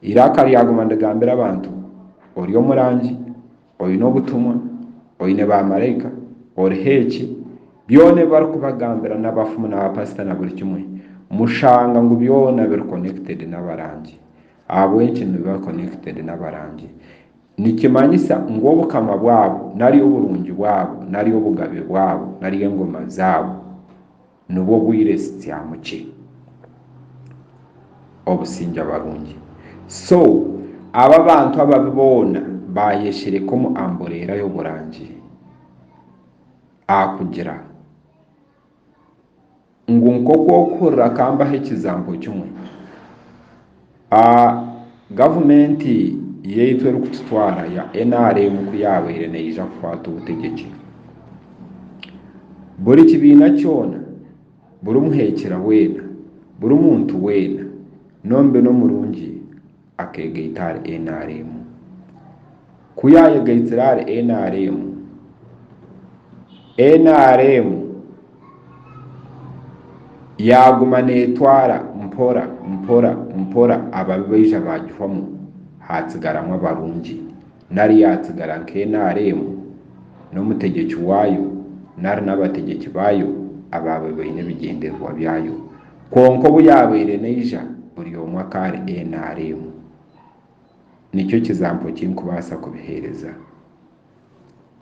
Eiraka ryaguma nirigambira abantu, Ori omurangi, oine obutumwa, oine baamaraika, oriho eki, byona ebi barikubagambira n'abafumu n'abapasita na buri kimwe, mushanga ngu byona biri connected n'abarangi. Ahabw'enki nibiba connected n'abarangi? Nikimanyisa ngu obukama bwabo, nari oburungi bwabo, nari obugabe bwabo, nari engoma zaabo, nibwo obwire sityamu kye obusingye abarungi so abo abantu ababi boona bayeshereka omu ambureera y'oburangire akugira ngu nk'oku okuhurira kambaho ekizaampo kimwe A Gavumenti yaitu erikututwara ya nrm ku yaabaire neija kukwata obutegyeki, buri kibiina kyona, buri muheekyera weena, buri muntu weena n'omubi n'omurungi akeegaita ahari nrm. Ku yaayegaitire ahari NRM, NRM yaaguma neetwara mpora mpora mpora ababi baija baagihwamu haatsigaramu abarungi nari yaatsigara nka NRM n'omutegyeki waayo nari n'abategyeki baayo abaabaire baine ebigyendererwa byayo. Kwonka obu yaabaire neija buri omwe akaba ari NRM. nikyo kizampo ki nkubaasa kubiheereza.